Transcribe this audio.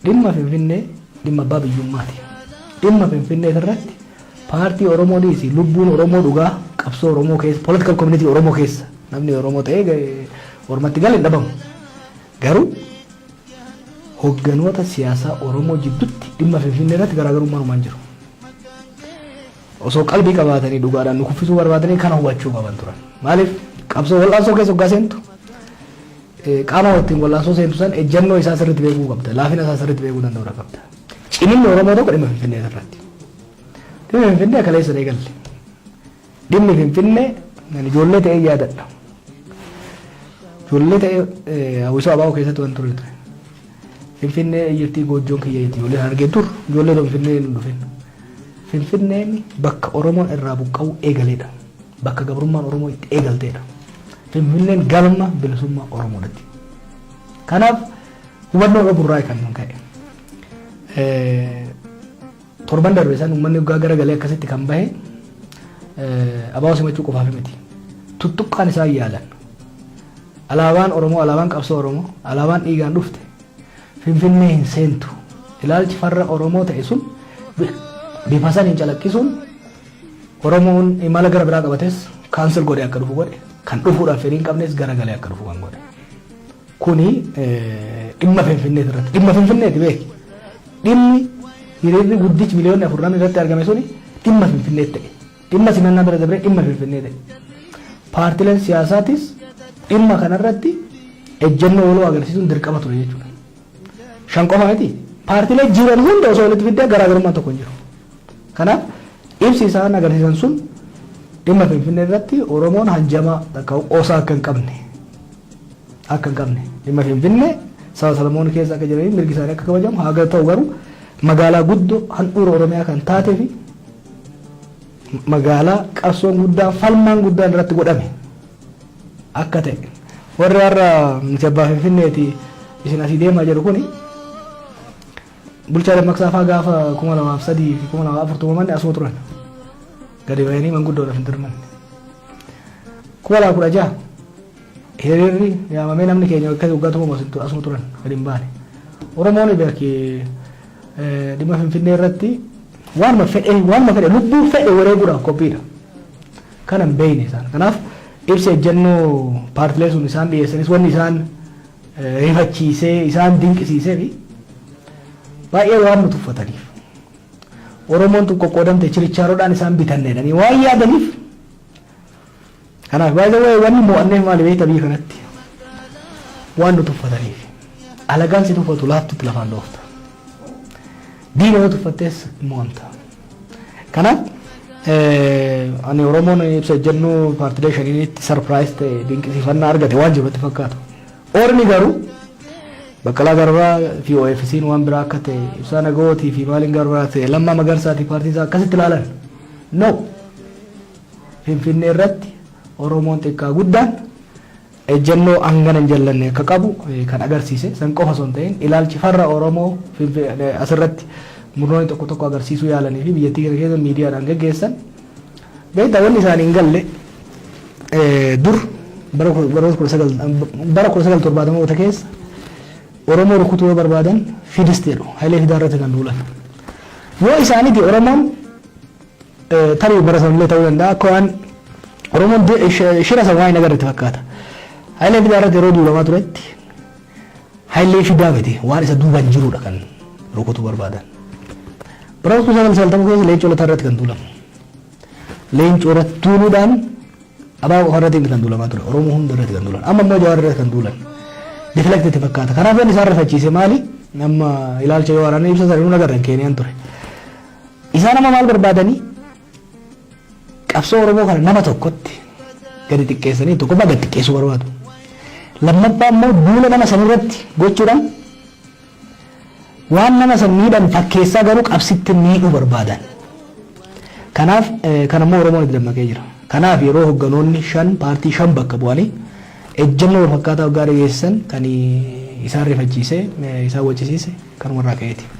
Dhimma Finfinnee dhimma abbaa biyyummaati. Dhimma Finfinnee irratti paartii Oromoo dhiisi lubbuun Oromoo dhugaa qabsoo Oromoo keessa political community Oromoo keessa namni Oromoo ta'ee ormatti gale hin dhabamu. Garuu hogganoota siyaasaa Oromoo jiddutti dhimma Finfinnee irratti garaagarummaan uumaan jiru. Osoo qalbii qabaatanii dhugaadhaan nu kuffisuu barbaadanii kana hubachuu qaban turan. Maaliif qabsoo wal'aansoo keessa hoggaa seentu qaama ittiin wal'aansoo seentu san ejjannoo isaa sirriitti beekuu qabda. Laafina isaa sirriitti beekuu danda'uudha qabda. Ciminni Oromoo tokko dhimma Finfinnee irratti. Dhimmi Finfinnee kaleessa eegalle. Dhimmi Finfinnee ani ijoollee ta'ee yaadadha. Ijoollee ta'ee hawwisoo abaa'oo keessatti waan ture ture. Finfinnee eyyettii goojjoon kiyya itti ijoollee Harargee dur ijoollee osoo Finfinnee hin dhufin. Finfinneen bakka Oromoon irraa buqqa'uu eegaledha. Bakka gabrummaan Oromoo itti eegaltedha. Finfinneen galma bilisummaa Oromoodhatti. Kanaaf hubannoo dhabuurraa kan ka'e. Torban darbe san uummanni hoggaa gara galee akkasitti kan bahe ABO simachuu qofaaf miti. Tuttuqqaan isaan yaalan. Alaabaan Oromoo, alaabaan qabsoo Oromoo, alaabaan dhiigaan dhufte Finfinnee hin seentu. Ilaalchi farra Oromoo ta'e sun bifa saniin calaqqisuun Oromoon imala gara biraa qabates kaansel godhee akka dhufu godhe. Kan dhufuudhaaf fedhii hin qabnes gara galee akka dhufu kan godhe. Kuni dhimma Finfinneeti irratti. Dhimma Finfinneeti beeki. Dhimmi hiriirri guddichi miliyoonni afur namni irratti argame suni dhimma Finfinneetti ta'e. Dhimma simannaa bira dabree dhimma Finfinnee ta'e. Paartileen siyaasaatis dhimma kanarratti ejjennoo waloo agarsiisuun dirqama ture jechuudha. Shan qofa miti. Paartilee jiran hunda osoo walitti fiddee garaagarummaan tokko hin jiru. Kanaaf ibsi isaan agarsiisan sun dhimma Finfinnee irratti Oromoon hanjamaa takka qoosaa akka hin qabne akka hin qabne dhimma Finfinnee saba Salamoon keessa akka jiranii mirgi isaanii akka kabajamu haa ta'u garuu magaalaa guddoo handhuura Oromiyaa kan taatee fi magaalaa qabsoon guddaan falmaan guddaan irratti godhame akka ta'e warri har'a nuti abbaa Finfinneeti isin asii deemaa jedhu kuni Bulchaa Dammaqsaa faa gaafa 2003 fi 2004 tumaman asuma turan. Gadi bahanii manguddoodhaaf hin dirmanne. 2016 hiriirri yaamamee namni keenya akka waggaa tumamu asuma turan gadi hin baane. Oromoon beeki dhimma Finfinnee irratti waanuma fedhe waanuma fedhe lubbuu fedhe wareeguudhaaf qophiidha. Kana hin beekne isaan. Kanaaf ibsa ejjennoo paartilee sun isaan dhiyeessanis wanni isaan rifachiisee, isaan dinqisiisee fi baay'ee waan nu tuffataniif Oromoon tun qoqqoodamte chirichaaroodhaan isaan bitanne jedhanii waan yaadaniif kanaaf baay'ee waa'ee wanni mo'anneef maali beekta biyya kanatti waan nu tuffataniif alagaan si tuffatu laaftutti lafaan dhoofta diina yoo tuffattees mo'amta. Kanaaf ani Oromoon ibsa ejjennoo paartilee shaniinitti sarpiraayis ta'e dinqisiifannaa argate waan jirutti fakkaatu. Ormi garuu Baqqalaa Garbaa fi OFC'n waan biraa akka ta'e ibsaa nagawootii fi maaliin garbaa ta'e lammaa magarsaati paartii isaa akkasitti ilaalan. No. Finfinnee irratti Oromoon xiqqaa guddaan ejjennoo hangana hin jallanne akka qabu kan agarsiise san qofa osoo hin ta'iin ilaalchi farra Oromoo asirratti murnoonni tokko tokko agarsiisuu yaalanii fi biyyattii kana keessa miidiyaadhaan geggeessan beektaa wanni isaanii hin galle dur bara kudha- baroota kudha sagal bara kudha sagal torbaatamoota keessa Oromoo rukutuu yoo barbaadan fidis jedhu Hayilee Fidaa irratti kan duulan yoo isaaniti Oromoon Tarii bara sanallee ta'uu danda'a akka waan Oromoon shira san waan hin agarretti fakkaata. Hayilee Fidaa irratti yeroo duulamaa turetti Hayilee Fidaa miti waan isa duubaan jirudha kan rukutuu barbaadan. Bara 1990 keessa leencoo lataa irratti kan duulamu. Leencoo irratti duuluudhaan abaa qofa irratti kan duulamaa ture Oromoo hunda irratti kan duulan amma immoo Jawaar irratti kan duulan. Deflect itti fakkaata. Kanaaf inni isaan rifachiise maali? Amma ilaalcha yoo waraanaa ibsa sana hin agarre Keeniyaan ture. Isaan amma maal barbaadanii qabsoo Oromoo kana nama tokkotti gadi xiqqeessanii tokkoffaa gad xiqqeessuu barbaadu. Lammaffaa immoo duula nama san irratti gochuudhaan waan nama san miidhan fakkeessaa garuu qabsitti miidhuu barbaadan. Kanaaf eh, kan ammoo Oromoon itti dammaqee jira. Kanaaf yeroo hogganoonni shan paartii shan bakka bu'anii ejjennoo wal fakkaataa waggaa dhageessisan kan isaan rifachiise eh, isaan wacisiise kan warraa ka'eeti.